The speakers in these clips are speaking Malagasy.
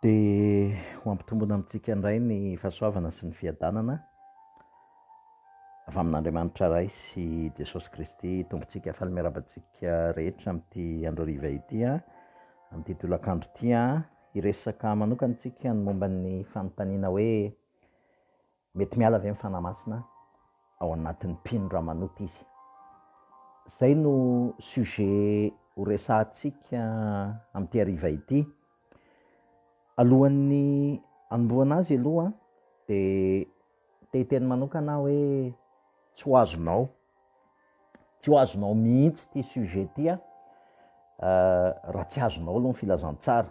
Dia ho hampitombina amintsika indray ny fahasoavana sy ny fiadanana avy amin'Andriamanitra Ray sy Jesosy Kristy Tompontsika. Faly miarahaba antsika rehetra amin'ity andro hariva ity, amin'ity tolakandro ity. Hiresaka manokana isika ny momba ny fanontaniana hoe Mety miala ve ny Fanahy Masina ao anatin'ny mpino raha manota izy? Izay no sujet ho resahantsika amin'ity hariva ity. Alohan'ny hanombohana azy aloha dia te hiteny manokana aho hoe tsy ho azonao, tsy ho azonao mihitsy ity sujet ity raha tsy azonao aloha ny filazantsara.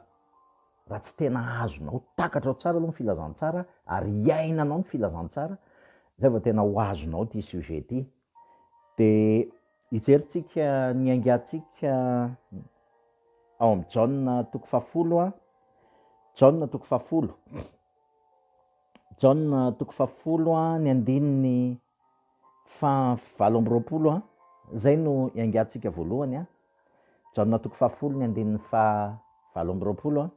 raha tsy tena azonao takatra ao tsara aloha ny filazantsara ary hiainanao ny filazantsara zay vao tena ho azonao ity sujet ity de hijerintsika ny aingantsika ao amin'ny jaona toko fahafolo a jaona toko fahafolo jaona toko fahafolo a ny andininy Faha valo amby roapolo a. Izay no iangatsika voalohany a. Jaona toko fahafolo ny andininy faha valo amby roapolo a.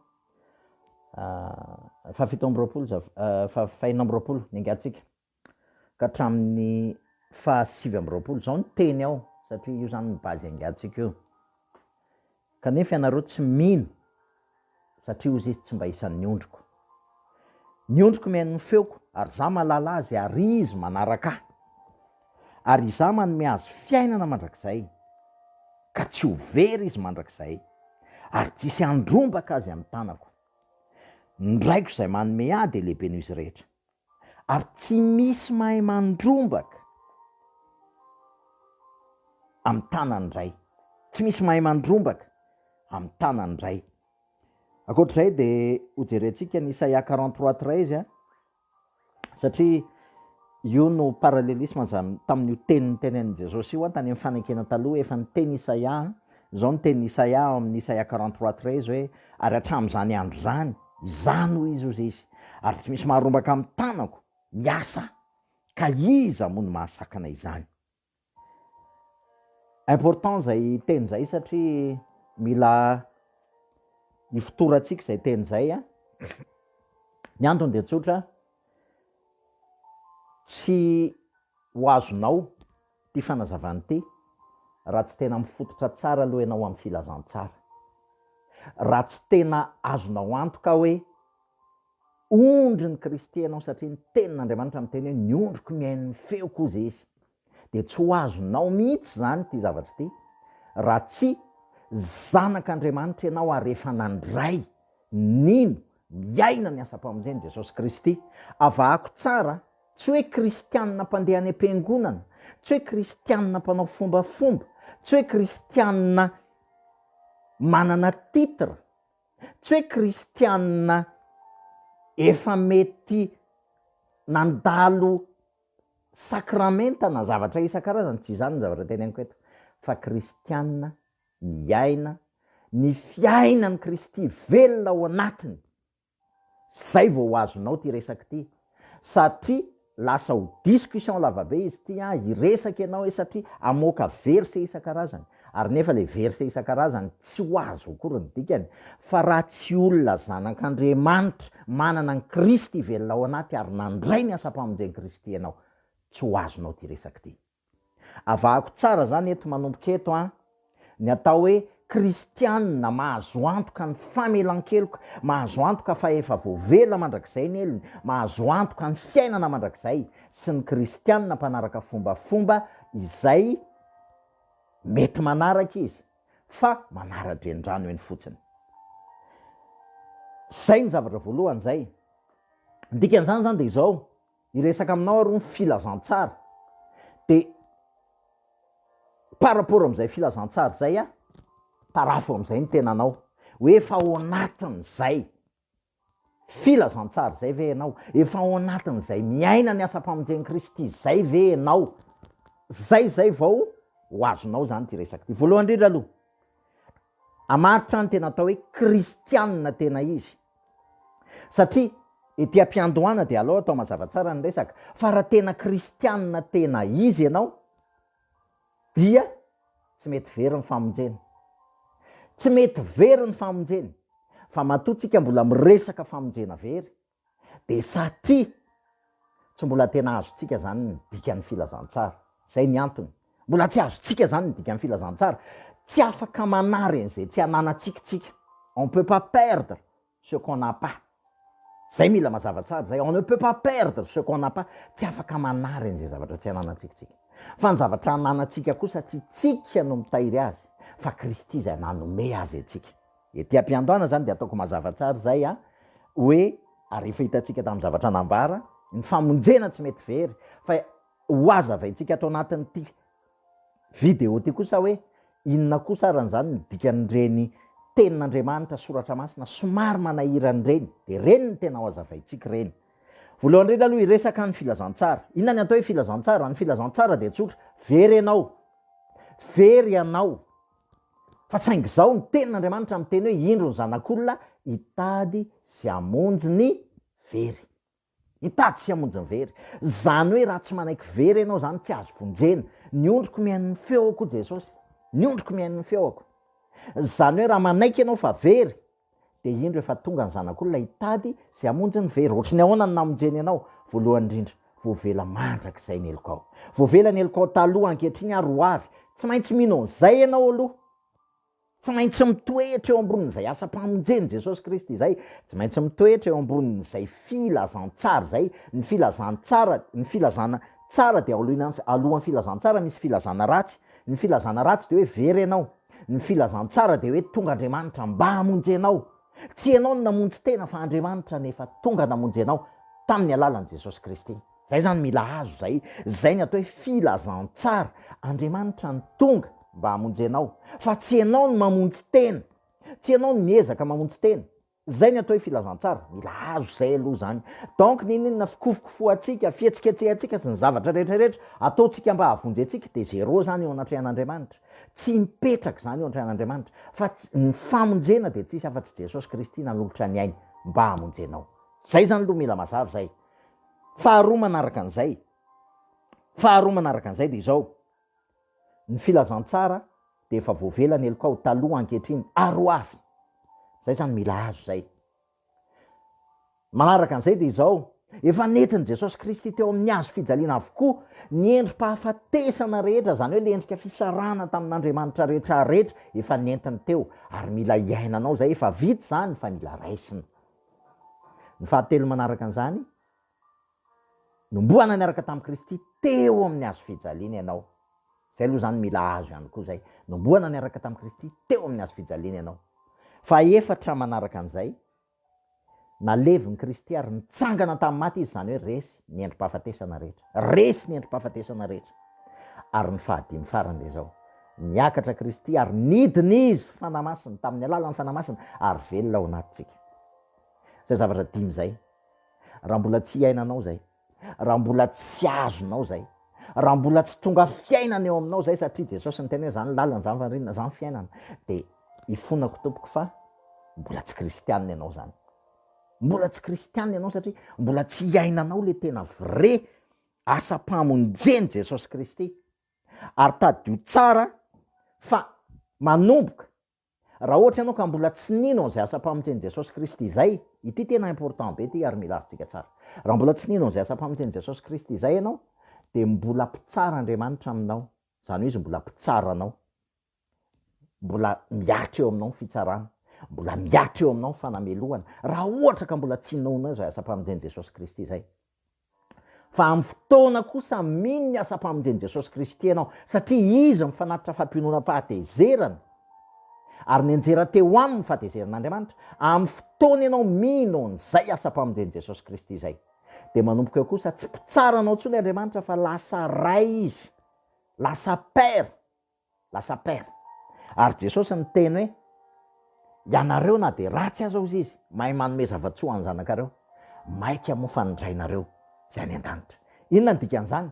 Faha fito amby roapolo za faha enina amby roapolo ny angatsika ka hatramin'ny faha sivy amby roapolo. Izao no teny ao satria io izany no base iangatsika io. Kanefa ianareo tsy mino, satria hozy izy tsy mba isan'ny ondriko. Ny ondriko mihaino ny feoko, ary izaho mahalala azy, ary izy manaraka ahy. Ary izaho manome azy fiainana mandrakizay, ka tsy ho very izy mandrakizay, ary tsy hisy handrombaka azy amin'ny tanako. Ny Raiko izay manome ahy dia lehibe noho izy rehetra. ary tsy misy mahay mandrombaka amin'ny tanan'ny ray, tsy misy mahay mandrombaka amin'ny tanan'ny ray. Ankoatr'izay dia hojerentsika ny Isaia quarante trois treize an, satria io no parallelisme zany tamin'io teny nitenenin'i Jesosy io an, tany amin'ny fanekena taloha efa niteny Isaia an, Izao no tenin'i Isaia ao amin'ny Isaia quarante trois treize hoe, Ary hatramin'izany andro izany, izany hoy Izy, hozy Izy, ary tsy misy maharombaka amin'ny tanako ny asa, ka iza moa no mahasakana izany? Important izay teny izay satria mila ifotorantsika izay teny izay an! Ny antony dia tsotra, tsy ho azonao. Ty fanazavana ity, raha tsy tena mifototra tsara aloha ianao amin'ny filazantsara, raha tsy tena azonao antoka hoe ondrin'i Kristy ianao satria ny Tenin'Andriamanitra miteny hoe ny ondriko mihaino ny feoko hozy izy, dia tsy ho azonao mihitsy izany ity zavatra ity raha tsy zanak'Andriamanitra ianao ary efa nandray, nino, miaina ny asam-pamonjen'i Jesosy Kristy. Avahako tsara Tsy hoe kristianina mpandeha any am-piangonana, tsy hoe kristianina mpanao fombafomba, tsy hoe kristianina manana titre, tsy hoe kristianina efa mety nandalo sakramenta na zavatra isan-karazany, tsy izany ny zavatra teneniko eto, fa kristianina miaina ny fiainan'i Kristy velona ao anatiny. Zay vao ho azonao ty resaka ty satria lasa ho discussion lavabe izy ty an, hiresaka ianao e satria amoaka verset isan-karazany ary nefa le verset isan-karazany tsy ho azo akory ny dikany fa raha tsy olona zanak'Andriamanitra manana an'i Kristy velona ao anaty ary nandray ny asam-pamonjen-Kristy ianao tsy ho azonao ty resaka ty. Avahako tsara izany eto manomboka eto an! Ny atao hoe kristiana mahazo antoka ny famelan-keloka, mahazo antoka fa efa voavela mandrakizay ny helony, mahazo antoka ny fiainana mandrakizay, sy ny kristiana mpanaraka fombafomba izay mety manaraka izy fa manara-drenirano eny fotsiny. Izay ny zavatra voalohany izay. Ny dikan'izany izany dia izao. Hiresaka aminao aho ny filazantsara dia par rapport amin'izay filazantsara izay an, tarafo amin'izay ny tenanao hoe efa ao anatin'izay filazantsara izay ve ianao? Efa ao anatin'izay miaina ny asam-pamonjen'i Kristy izay ve ianao? Izay izay vao ho azonao izany ity resaka ity. Voalohany indrindra aloha, hamaritra ny tena atao hoe kristianina tena izy. Satria ety am-piandohana dia aleo atao mazava tsara ny resaka fa raha tena kristianina tena izy ianao dia tsy mety very ny famonjeny. Tsy mety very ny famonjeny fa matoa tsika mbola miresaka famonjena very dia satria tsy mbola tena azontsika izany ny dikan'ny filazantsara. Izay ny antony. Mbola tsy azontsika izany ny dikan'ny filazantsara. Tsy afaka manary an'izay tsy ananantsika tsika. On peut pas perdre ce qu'on n'a pas. Izay mila mazava tsara izay. On ne peut pas perdre ce qu'on n'a pas. Tsy afaka manary an'izay zavatra tsy ananantsika tsika. Fa ny zavatra ananantsika kosa tsy tsika no mitahiry azy fa Kristy izay nanome azy antsika. Ety ampiandohana izany dia ataoko mazava tsara izay an, hoe ary efa hitantsika tamin'ny zavatra nambara, ny famonjena tsy mety very fa Hohazavaintsika ato anatin'ity video ity kosa hoe inona kosa arany izany ny dikan'ireny tenin'Andriamanitra soratra masina somary manahirana ireny, dia ireny no tena hohazavaintsika ireny. Voalohany indrindra aloha hiresaka ny filazantsara. Inona ny atao hoe filazantsara? Ny filazantsara dia tsotra, very ianao, very ianao, fa saingy izao ny tenin'Andriamanitra miteny hoe indro ny zanak'olona hitady sy hamonjy ny very. Hitady sy hamonjy ny very. Izany hoe raha tsy manaiky very ianao izany tsy azo vonjena. Ny ondriko mihaino ny feoko hoy Jesosy. Ny ondriko mihaino ny feoko. Izany hoe raha manaiky ianao fa very dia indro efa tonga ny Zanak'olona hitady sy hamonjy ny very. Ohatry ny ahoana ny namonjeny anao? Voalohany indrindra, voavela mandrakizay ny helokao. Voavela ny helokao taloha, ankehitriny ary ho avy. Tsy maintsy mino an'izay ianao aloha. Tsy maintsy mitoetra eo ambonin'izay asam-pamonjen'i Jesosy Kristy izay, tsy maintsy mitoetra eo ambonin'izay filazantsara izay, ny filazantsara, ny filazana tsara dia aoloina, alohan'ny filazantsara misy filazana ratsy, ny filazana ratsy dia hoe very ianao, ny filazantsara dia hoe tonga Andriamanitra mba hamonjy anao, tsy ianao no namonjy tena fa Andriamanitra no efa tonga namonjy anao tamin'ny alalan'i Jesosy Kristy. Zay zany mila azo zay, zay ny atao hoe filazantsara, Andriamanitra no tonga mba hamonjy anao fa tsy enao no mamonjy tena, tsy enao no miezaka mamonjy tena, zay ny atao hoe filazantsara, mila azo zay aloha zany, donc ninininona fikofokofohantsika, fihetsiketsehantsika sy ny zavatra retraretra ataontsika mba hahavonjy antsika de zéro zany eo anatrehan'Andriamanitra, tsy mipetraka zany eo anatrehan'Andriamanitra, fa tsy, ny famonjena de tsisy afa-tsy Jesosy Kristy nanolotra ny ainy mba hamonjy anao, zay zany aloha mila mazava zay, Faharoa manaraka an'izay, faharoa manaraka an'izay dia izao, ny filazantsara dia efa voavela ny helokao taloha ankehitriny ary ho avy, izay izany mila azo izay. Manaraka an'izay dia izao, efa nentin'i Jesosy Kristy teo amin'ny hazo fijaliana avokoa ny endri-pahafatesana rehetra, izany hoe ilay endrika fisarahana tamin'Andriamanitra rehetra rehetra, efa nentiny teo ary mila iainanao izay, efa vita izany fa mila raisina. Ny fahatelo manaraka an'izany, Nombohana niaraka tamin'i Kristy teo amin'ny hazo fijaliana ianao. Izay aloha izany mila hazo ihany koa izay. Nombohana niaraka tamin'i Kristy teo amin'ny hazo fijaliana ianao. Fahefatra manaraka an'izay, Nalevin'i Kristy ary nitsangana tamin'ny maty Izy, izany hoe resy. ny endri-pahafatesana rehetra. Resy ny endri-pahafatesana rehetra. Ary ny fahadimy farany dia izao, Niakatra Kristy ary nidina Izy, Fanahy Masina, tamin'ny alalan'ny Fanahy Masina, ary velona ao anatintsika. Izay zavatra dimy izay. Raha mbola tsy iainanao izay, raha mbola tsy azonao izay, raha mbola tsy tonga fiainana eo aminao izay, satria Jesosy niteny hoe, Izany ny lalana, izany ny fandrinana, izany ny fiainana, dia ifonako tompoko fa mbola tsy kristianina ianao izany. Mbola tsy kristiana ianao satria mbola tsy iainanao le tena vrai asam-pamonjeny Jesosy Kristy. Ary tadidio tsara fa manomboka raha ohatra ianao ka mbola tsy nino an'izay asam-pamonjeny Jesosy Kristy izay, ity tena important be ity ary mila azontsika tsara. Raha mbola tsy nino an'izay asam-pamonjeny Jesosy Kristy izay ianao dia mbola mpitsara Andriamanitra aminao, izany hoe izy mbola mpitsara anao. mbola miaritra eo aminao ny fitsarana, mbola miaritra eo aminao ny fanamelohana, raha ohatra ka mbola tsy noana izay asam-pamonjen'i Jesosy Kristy izay. Fa amin'ny fotoana kosa mino ny asam-pamonjen'i Jesosy Kristy ianao, satria Izy no fanatitra fampiononam-pahatezerana, ary nianjera teo Aminy ny fahatezeran'Andriamanitra, amin'ny fotoana ianao mino an'izay asam-pamonjen'i Jesosy Kristy izay, dia manomboka eo kosa tsy mpitsara anao intsony Andriamanitra fa lasa Ray Izy, lasa Père. Lasa père. Ary Jesosy niteny hoe, Ianareo na dia ratsy aza hozy izy, mahay manome zava-tsoa ho an'ny zanakareo, maika moa fa ny Rainareo izay any an-danitra. Inona ny dikan'izany?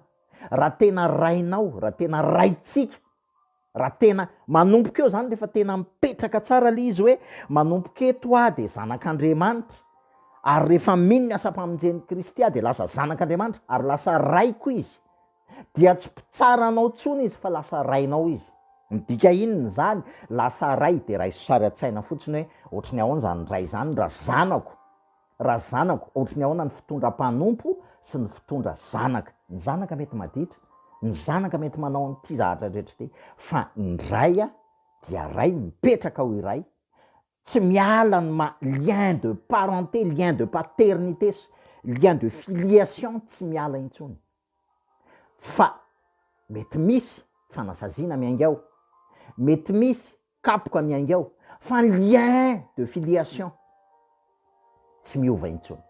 Raha tena Rainao, raha tena Raintsika, raha tena manomboka eo izany, rehefa tena mipetraka tsara ilay izy hoe, manomboka eto aho dia zanak'Andriamanitra, ary rehefa mino ny asam-pamonjen'i Kristy aho dia lasa zanak'Andriamanitra, ary lasa Raiko izy, Dia tsy mpitsara anao intsony izy fa lasa rainao izy. Midika inona izany? Lasa ray dia raiso sary an-tsaina fotsiny hoe ohatry ny ahoana izany ray izany raha zanako? Raha zanako, ohatry ny ahoana ny fitondra mpanompo sy ny fitondra zanaka? Ny zanaka mety maditra, ny zanaka mety manao an'ity zavatra rehetra ity, fa ny ray dia ray mipetraka ho iray, tsy miala ny maha lien de parenté, lien de paternité sy lien de filiation tsy miala intsony. fa mety misy fanasaziana miainga ao, mety misy kapoka miainga ao, fa ny lien de filiation tsy miova intsony,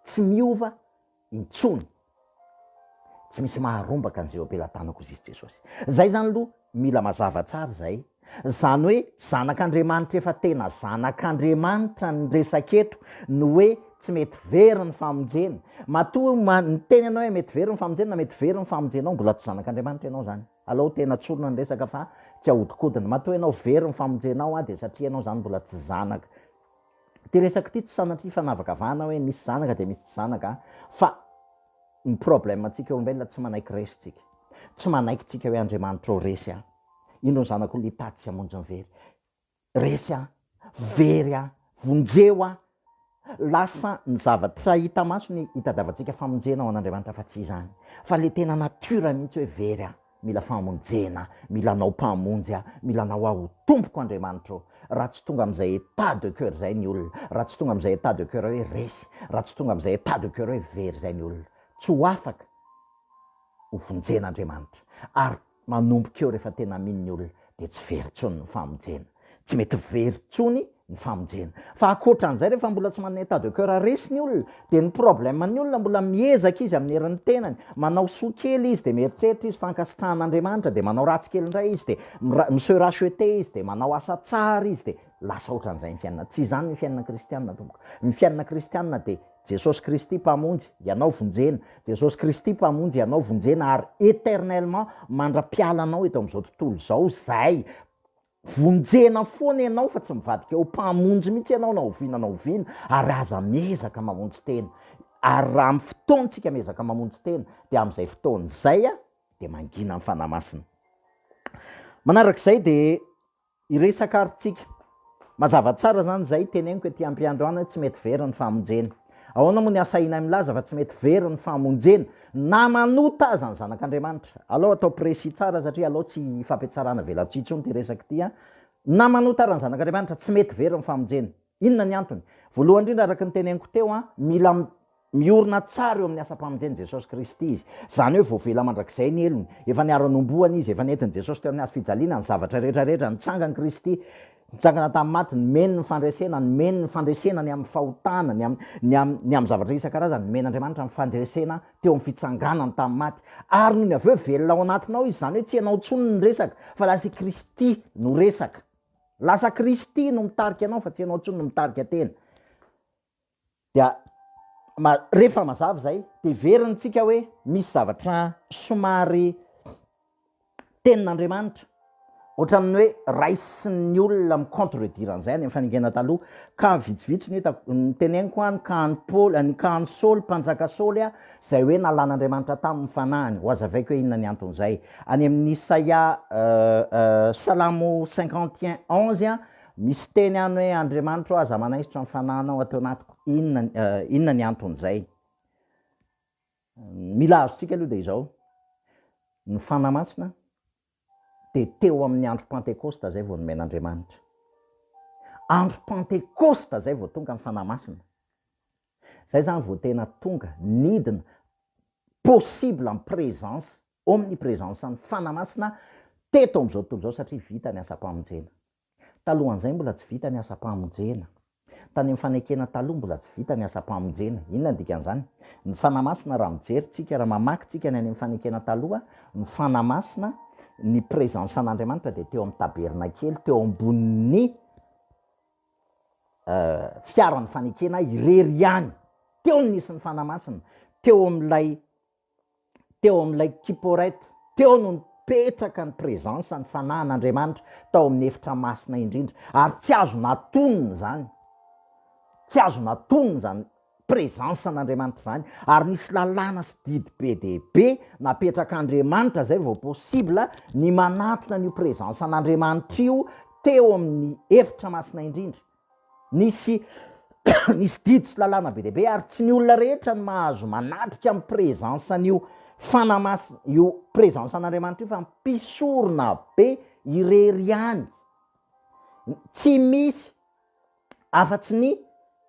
tsy miova intsony, tsy misy maharombaka an'izay eo am-pelatanako, hoy Jesosy. Izay izany aloha Mila mazava tsara izay. Izany hoe zanak'Andriamanitra efa tena zanak'Andriamanitra ny resaka eto no hoe tsy mety very ny famonjena. Matoa miteny ianao hoe mety very ny famonjena na mety very ny famonjenao, mbola tsy zanak'Andriamanitra ianao izany. Alao tena tsorina ny resaka fa tsy ahodikodina. Matoa ianao very ny famonjenao dia satria ianao izany mbola tsy zanaka. Ity resaka ity tsy sanatria fanavakavahana hoe misy zanaka dia misy tsy zanaka fa ny problème antsika olombelona tsy manaiky resy tsika. Tsy manaiky tsika hoe Andriamanitra ô resy a! Indro ny zanak'olona hipaty sy hamonjy ny very. Resy a! Very a! Vonjeo a! Lasa ny zavatra hita maso ny hitadiavantsika famonjena ho an'Andriamanitra fa tsy izany. Fa ilay tena nature mihitsy hoe very a! Mila famonjena, mila anao mpamonjy aho, mila anao aho ho tompoko Andriamanitra ô! Raha tsy tonga amin'izay état de cœur izay ny olona, raha tsy tonga amin'izay état de cœur hoe resy, raha tsy tonga amin'izay état de cœur hoe very izay ny olona, tsy ho afaka ho vonjen'Andriamanitra. Ary manomboka eo rehefa tena mino ny olona dia tsy very intsony ny famonjena. Tsy mety very tsony ny famonjena. Fa akoatran'izay rehefa mbola tsy manana état de coeur resy ny olona dia ny problème ny olona mbola miezaka izy amin'ny herin'ny tenany, manao soa kely izy dia mieritreritra izy fa ankasitrahan'Andriamanitra dia manao ratsy kely indray izy dia mi se racheter izy dia manao asa tsara izy dia lasa ohatran'izay ny fiainana. Tsy izany ny fiainana kristiana tompoko. Ny fiainana kristiana dia Jesosy Kristy Mpamonjy, ianao vonjena. Jesosy Kristy Mpamonjy, ianao vonjena ary éternellement mandra-pialanao eto amin'izao tontolo izao izay. Vonjena foana ianao fa tsy mivadika ho mpamonjy mihitsy ianao na oviana na oviana ary aza miezaka mamonjy tena ary raha amin'ny fotoantsika miezaka mamonjy tena dia amin'izay fotoana izay a dia mangina ny Fanahy Masina. Manarak'izay dia hiresaka ary tsika. Mazava tsara izany izay teneniko ety am-piandohana hoe tsy mety very ny famonjena. Ahoana moa ny asainay milaza fa tsy mety very ny famonjena na manota aza ny zanak'Andriamanitra? Alao atao précis tsara satria alao tsy hifampitsarana velatsihy intsony ity resaka ity an! Na manota ara ny zanak'Andriamanitra, tsy mety very ny famonjena. Inona ny antony? Voalohany indrindra araka ny teneniko teo an, mila miorina tsara eo amin'ny asam-pamonjen'i Jesosy Kristy izy. Izany hoe voavela mandrakizay ny helony, efa niara-nomboana izy, efa nentin'i Jesosy teo amin'ny hazo fijaliana ny zavatra rehetra rehetra, nitsangany Kristy, Nitsangana tamin'ny maty, nomeny ny fandresena, nomeny ny fandresena ny amin'ny fahotana, ny amin'ny, ny amin'ny, ny amin'ny zavatra isan-karazany, nomen'Andriamanitra ny fandresena teo amin'ny fitsanganany tamin'ny maty. Ary nony avy eo, velona ao anatinao Izy, izany hoe tsy ianao intsony no resaka, fa lasa i Kristy no resaka. Lasa Kristy no mitarika anao, fa tsy ianao intsony no mitarika tena. Dia ma- rehefa mazava izay, dia heverintsika hoe misy zavatra somary tenin'Andriamanitra, ohatran'ny hoe raisin'ny olona mi-contredire an'izay any amin'ny faningena taloha. Ka vitsivitsy no hitako, noteneniko hoa ny kahan'i Paoly, ny kahan'i Saoly, mpanjaka Saoly a, izay hoe nalan'Andriamanitra taminy ny fanahiny. Hohazavaiko hoe inona ny anton'izay. Any amin'Isaia, Salamo cinquante et un onze a, Misy teny any hoe, Andriamanitra ô, aza manaisotra ny fanahinao ato anatiko. Inona, inona ny anton'izay? Ny mila azontsika aloha dia izao, ny Fanahy Masina dia teo amin'ny andro Pantekosta izay vao nomen'Andriamanitra. Andro Pantekosta izay vao tonga ny Fanahy Masina. Izay izany vao tena tonga, nidina, possible en présence Omnipresence-n'ny Fanahy Masina teto amin'izao tontolo izao satria vita ny asam-pamonjena. Talohan'izay mbola tsy vita ny asam-pamonjena. Tany amin'ny fanekena taloha mbola tsy vita ny asam-pamonjena. Inona ny dikan'izany? Ny Fanahy Masina raha mijery tsika, raha mamaky tsika ny any amin'ny fanekena taloha, ny Fanahy Masina, ny presence an'Andriamanitra dia teo amin'ny tabernakely, teo ambonin'ny fiaran'ny fanekena irery ihany. Teo no nisy ny Fanahy Masina. Teo amin'ilay teo amin'ilay Kipporeth, teo no nipetraka ny présence, ny fanahin'Andriamanitra tao amin'ny efitra masina indrindra, ary tsy azo natonina izany, tsy azo natonina izany présence an'Andriamanitra izany, ary nisy lalàna sy didy be dia be napetrak'Andriamanitra izay vao possible ny manantona an'io présence an'Andriamanitra io teo amin'ny efitra masina indrindra. Nisy nisy didy sy lalàna be dia be ary tsy ny olona rehetra no mahazo manatrika ny presence an'io fanamas- io presence an'Andriamanitra io fa mpisorona be irery ihany no tsy misy afa-tsy ny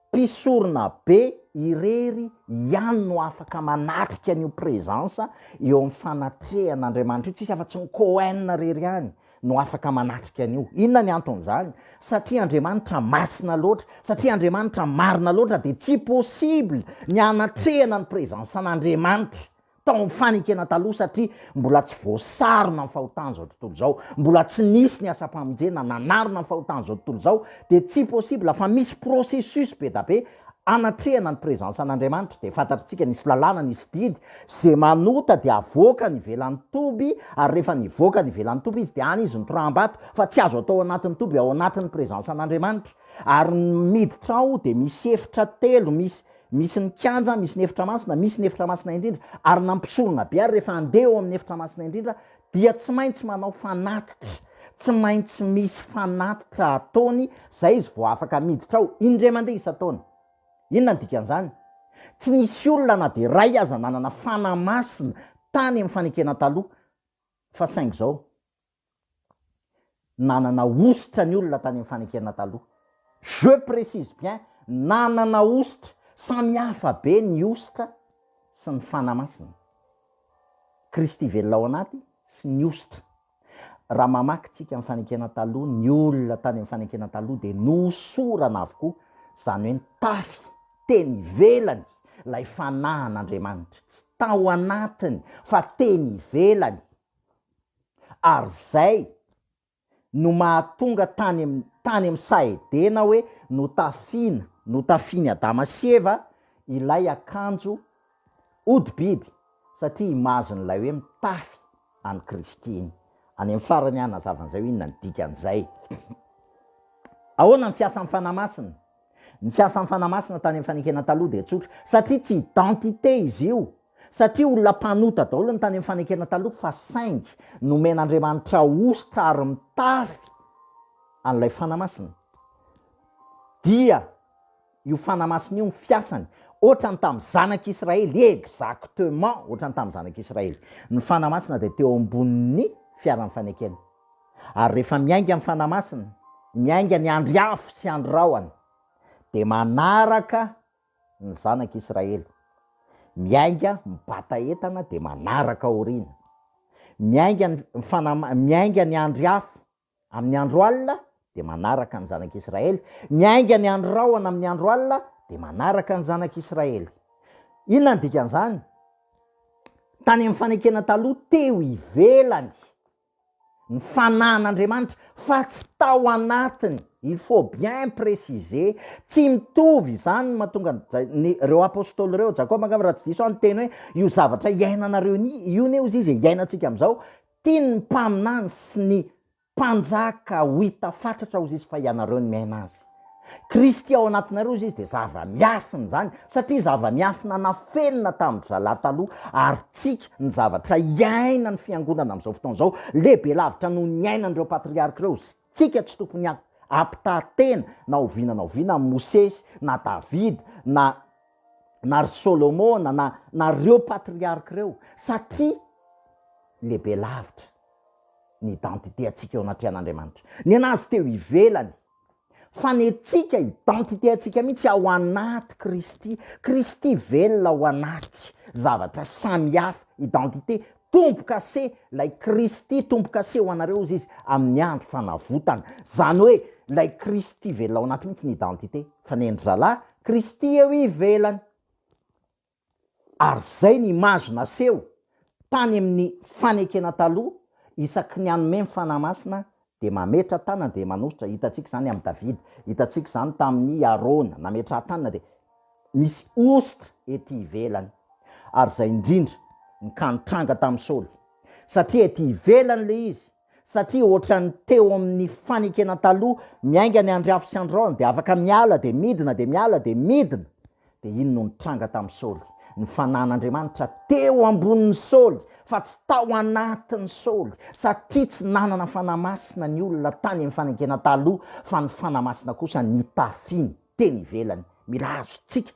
mpisorona be irery ihany no afaka manatrika an'io presence eo amin'ny fanatrehan'Andriamanitra io, tsisy afa-tsy ny Cohen irery ihany no afaka manatrika an'io. Inona ny anton'izany? Satria Andriamanitra masina loatra, satria Andriamanitra marina loatra dia tsy possible ny hanatrehana ny présence an'Andriamanitra tao amin'ny fanekena taloha satria mbola tsy voasarona ny fahotan'izao tontolo izao, mbola tsy nisy ny asam-pamonjena nanarona ny fahotan'izao tontolo izao dia tsy possible fa misy processus be da be Anatrehana ny presence an'Andriamanitra dia fantatr'tsika nisy lalàna nisy didy ze manota dia avoakany ivelan'ny toby ary rehefa nivoaka ny ivelan'ny toby izy dia any izy mitoraham-bato fa tsy azo atao ao anatin'ny toby ao anatin'ny presence an'Andriamanitra ary ny miditra ao dia misy efitra telo misy misy ny kianja misy ny efitra masina misy ny efitra masina indrindra ary na mpisorona be ary rehefa andeha ao amin'ny efitra masina indrindra dia tsy maintsy manao fanatitra, tsy maintsy misy fanatitra ataony izay izy vao afaka miditra ao, indray mandeha isan-taona. Inona ny dikan'izany? Tsy nisy olona na dia iray aza nanana fanahy masina tany amin'ny fanekena taloha, fa saingy izao. Nanana hosotra ny olona tany amin'ny fanekena taloha. Je précise bien, nanana hosotra. Samy hafa be ny hosotra sy ny Fanahy Masina. Kristy velona ao anaty sy ny hosotra. Raha mamaky tsika ny fanekena taloha, ny olona tany amin'ny fanekena taloha dia nohosorana avokoa, izany hoe nitafy teny ivelany ilay Fanahin' Andriamanitra. Tsy tao anatiny fa teny ivelany. Ary zay no mahatonga tany am tany am Sahedena hoe notafina notafiny Adama sy Eva ilay akanjo hodi-biby satria image n'ilay hoe mitafy an'i Kristy iny. Any am farany hanazava an'izay hoe inona ny dikan'izay. Ahoana ny fiasan'ny Fanahy Masina? Ny fiasan'ny Fanahy Masina tany amin'ny fanekena taloha dia tsotra, satria tsy identité izy io, satria olona mpanota daholo ny tany amin'ny fanekena taloha, fa saingy nomen'Andriamanitra hosotra ary mitafy an'ilay Fanahy Masina. Dia io Fanahy Masina io ny fiasany, ohatran'ny tamin'ny zanak'Israely, exactement ohatran'ny tamin'ny zanak'Israely. Ny Fanahy Masina dia teo ambonin'ny fiaran'ny fanekena. Ary rehefa miainga ny Fanahy Masina, miainga ny andry afo sy andry rahona, dia manaraka ny zanak' Israely, miainga mibata entana dia manaraka aoriana. Miainga ny Fanahy, miainga ny andry afo amin' ny andro alina dia manaraka ny zanak' Israely, miainga ny andry rahona amin' ny andro alina dia manaraka ny zanak' Israely. Inona ny dikan' izany? Tany amin' ny Fanekena Taloha, teo ivelany ny fanahin'Andriamanitra fa tsy tao anatiny, il faut bien preciser, tsy mitovy izany no mahatonga ny ireo apostoly ireo, Jakoba angamba raha tsy diso aho niteny hoe io zavatra iainanareo io ne hozy izy e, iainantsika amin'izao, tian'ny mpaminany sy ny mpanjaka ho hita fatratra hozy izy fa ianareo no miaina azy. Kristy ao anatinareo izay izy dia zava-miafina izany satria zava-miafina nafenina tamin-dry zalahy taloha ary tsika ny zavatra iainan'ny fiangonana amin'izao fotoana izao lehibe lavitra noho ny iainan'ireo patriarka ireo izay tsika tsy tokony hampitaha tena na oviana na oviana amin'i Mosesy na Davida na na ry Solomona na na ireo patriarka ireo satria lehibe lavitra ny identité antsika eo anatrehan'Andriamanitra ny an'azy teo ivelany fa ny antsika, identité antsika mihitsy ao anaty Kristy, Kristy velona ao anaty, zavatra samihafa, identité, tombo-kase, ilay Kristy tombo-kase ho anareo hozy Izy amin'ny andro fanavotana, izany hoe ilay Kristy velona ao anaty mihitsy ny identité, fa ny endri-zalahy, Kristy eo ivelany. Ary zay ny image naseho tany amin'ny fanekena taloha, isaky ny hanome ny Fanahy Masina dia mametra tanana dia manositra, hitantsika izany amin'i David, hitantsika izany tamin'i Arona, nametraha-tanana dia misy hosotra ety ivelany. Ary izay indrindra, ny ka nitranga tamin'i Saoly, satria ety ivelany ilay izy, satria ohatran'ny teo amin'ny fanekena taloha miainga ny andry afo sy andry rahona dia afaka miala dia midina dia miala dia midina dia iny no nitranga tamin'i Saoly ny fanahin'Andriamanitra teo ambonin'i Saoly fa tsy tao anatin'i Saoly satria tsy nanana fanahy masina ny olona tany amin'ny fanekena taloha fa ny fanahy masina kosa nitafiny teny ivelany mila azontsika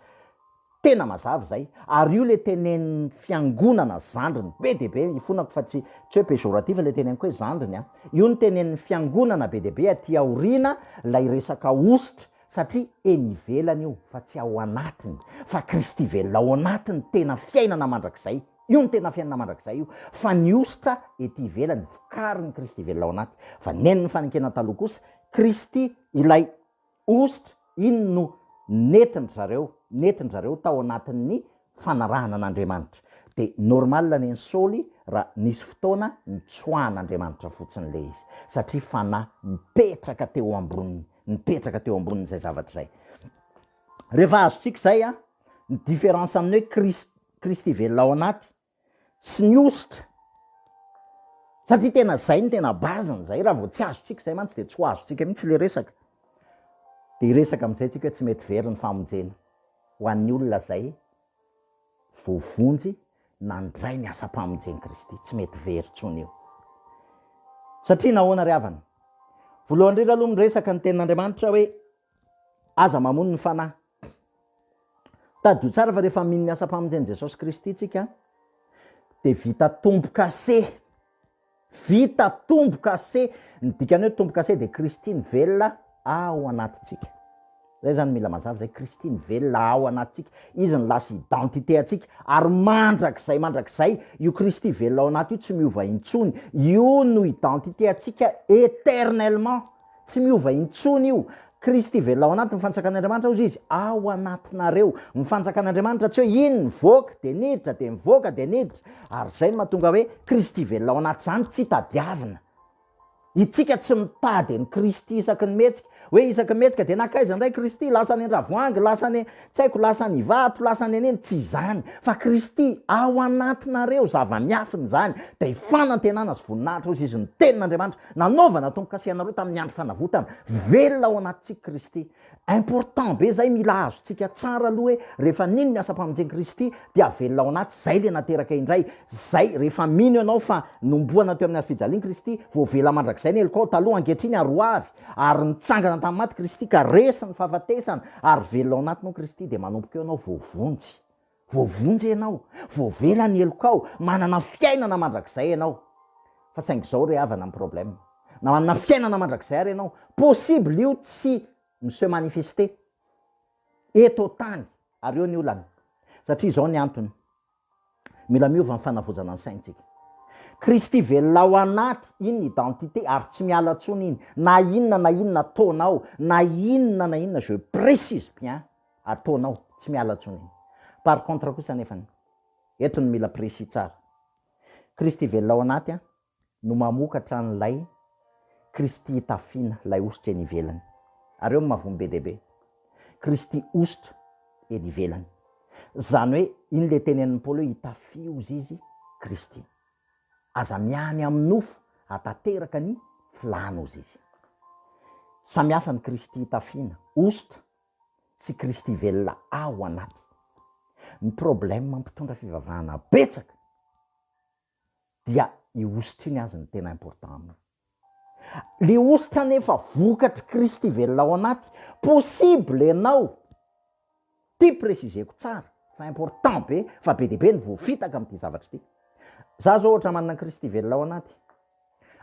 Tena mazava izay, ary io ilay tenenin'ny fiangonana zandriny be dia be, ifonako fa tsy tsy hoe péjoratif ilay teneniko hoe zandriny an, io no tenenin'ny fiangonana be dia be aty aoriana ilay resaka hosotra, satria eny ivelany io fa tsy ao anatiny, fa Kristy velona ao anatiny, tena fiainana mandrakizay, io no tena fiainana mandrakizay io, fa ny hosotra ety ivelany, vokarin'ny Kristy velona ao anaty, fa ny nen'ny fanenkena taloha kosa, Kristy ilay Host, Inona no nentin-dry zareo, nentin-dry zareo tao anatin'ny fanarahana an'Andriamanitra? Dia normal anie ny Saoly raha nisy fotoana nitsoahan'Andriamanitra fotsiny ilay izy, satria fanahy nipetraka teo amboniny, nipetraka teo amboniny izay zavatra izay. Rehefa azontsika izay an, ny différence amin'ny hoe Kristy, Kristy velona ao anaty, sy ny hosotra satria tena zay no tena base-ny zay, raha vao tsy azontsika zay mantsy dia tsy ho azontsika mihitsy le resaka, de hiresaka amizay tsika hoe tsy mety very ny famonjena ho an'ny olona zay voavonjy nandray ny asam-pamonjen'i Kristy, tsy mety very tsony io. Satria nahoana ry havana? Voalohany indrindra aloha miresaka ny tenin'Andriamanitra hoe Aza mamono ny fanahy. Tadidio tsara fa rehefa mino ny asam-pamonjen'i Jesosy Kristy isika dia vita tombo-kase. Vita tombo-kase. Ny dikan'ny hoe tombo-kase dia Kristy nivelona ao anatintsika. Izay izany mila mazava izay, Kristy nivelona ao anatintsika. Izy no lasa identité antsika ary mandrakizay mandrakizay io Kristy velona ao anaty io tsy miova intsony. Io no identité antsika éternellement. Tsy miova intsony io. Kristy velona ao anatin'ny fanjakan'Andriamanitra hozy izy, ao anatinareo. Ny fanjakan'Andriamanitra tsy hoe iny nivoaka dia niditra, dia nivoaka dia niditra. Ary izay no mahatonga hoe Kristy velona ao anaty izany tsy tadiavina. Itsika tsy mitady an'i Kristy isaky ny mihetsika. Hoe isaky ny mihetsika dia nankaiza indray Kristy? Lasa any an-dravoahangy, lasa any Tsy haiko lasa ny vato lasa ny an'iny tsy izany fa Kristy ao anatinareo zava-miafina izany dia fanantenana sy voninahitra hozy izy ny tenin'Andriamanitra nanaovana tombokase anareo tamin'ny andro fanavotana velona ao anatintsika Kristy important be zay mila azontsika tsara aloha hoe rehefa nino ny asam-pamonjen Kristy dia velona ao anaty zay le nateraka indray zay rehefa mino ianao fa nomboana teo amin'ny hazofijalian Kristy voavela mandrakizay ny helokao taloha ankehitriny ary hoavy Ary nitsangana tamin'ny maty Kristy ka resy ny fahafatesana ary velona ao anatiny ao Kristy dia manomboka eo ianao voavonjy. Voavonjy ianao, voavela ny helokao, manana fiainana mandrakizay ianao. Fa saingy izao ry havana ny problème, na manana fiainana mandrakizay ary ianao, possible io tsy mi-se manifester eto an-tany ary eo ny olana. Satria izao ny antony. Mila miova ny fanavaozana ny saintsika. Kristy velona ao anaty, iny ny identité ary tsy miala tsony iny, na inona na inona ataonao, na inona na inona, je précise bien, ataonao, tsy miala tsony iny. Par contre kosa anefany, eto no mila précis tsara, Kristy velona ao anaty an, no mamokatra an'ilay Kristy itafiana, ilay hosotra eny ivelany. Ary eo no maha-vono be dia be. Kristy hosotra eny ivelany. Izany hoe, iny ilay tenenin'i Paoly hoe itafio hozy izy, Kristy. Aza miany amin'ny nofo hahatanteraka ny filàna hozy izy. Samy hafa ny Kristy itafiana, hosotra, sy Kristy velona ao anaty. Ny problème mpitondra fivavahana betsaka. dia io hosotra iny azy no tena important aminy. Le hosotra anefa vokatry Kristy velona ao anaty, possible ianao, ty préciseko tsara fa important be fa be dia be ny voafitaka amin'ity zavatra ity. Za zao ohatra manana Kristy velona ao anaty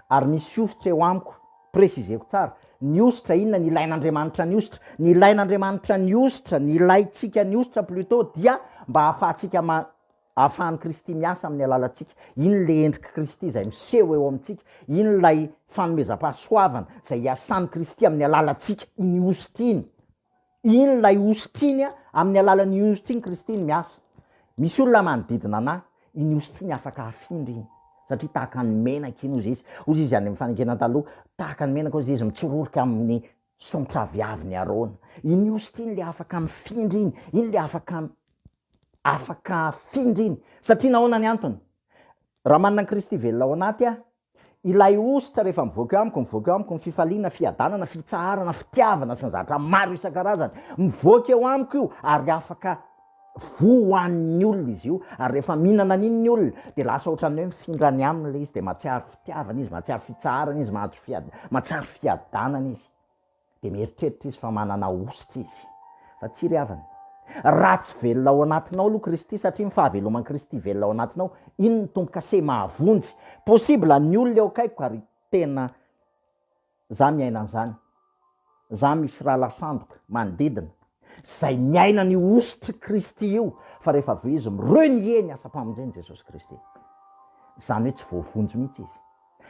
ary misy hosotra eo amiko, préciseko tsara, ny hosotra inona ny ilain'Andriamanitra ny hosotra? Ny ilain'Andriamanitra ny hosotra, ny ilaintsika ny hosotra plutôt dia mba ahafahantsika ma- Ahafahan'i Kristy miasa amin'ny alalantsika. Iny ilay endrik'i Kristy izay miseho eo amintsika. Iny ilay fanomezam-pahasoavana izay iasan'i Kristy amin'ny alalantsika, iny hosotra iny. Iny ilay hosotra iny, amin'ny alalan'iny hosotra iny Kristy iny miasa. Misy olona manodidina anà, iny hosotra iny afaka hafindra iny, satria tahaka ny menaka iny hozy izy. Hozy izy any amin'ny Fanekena Taloha, tahaka ny menaka hozy izy, mitsororoka amin'ny Saontra avy aviny Arona. Iny host iny le afaka mifindra iny, iny le afaka afaka afindra iny. Satria nahoana ny antony? Raha manana an'i Kristy velona ao anaty aho, ilay host rehefa mivoaka eo amiko, mivoaka eo amiko ny fifaliana, fiadanana, fitsaharana, fitiavana sy ny zavatra maro isan-karazany. Mivoaka eo amiko io ary afaka. Voa ho hanin'ny olona izy io ary rehefa mihinana an'iny ny olona dia lasa ohatran'ny hoe mifindra any aminy ilay izy dia mahatsiaro fitiavana izy, mahatsiaro fitsaharana izy, mahatsiaro fiadanana izy. Dia mieritreritra izy fa manana hosotra izy. Fa tsy ry havana. Raha tsy velona ao anatinao aloha Kristy, satria ny fahaveloman'i Kristy velona ao anatinao, iny ny tombo-kase mahavonjy. Possible ny olona eo akaikiko ary tena. Za miaina an'zany. Za misy rahalahy sandoka manodidina zay miaina an'io hosotry Kristy io fa rehefa avy eo izy mi renier ny asam-pamonjen'i Jesosy Kristy. Zany hoe tsy voavonjy mihitsy izy.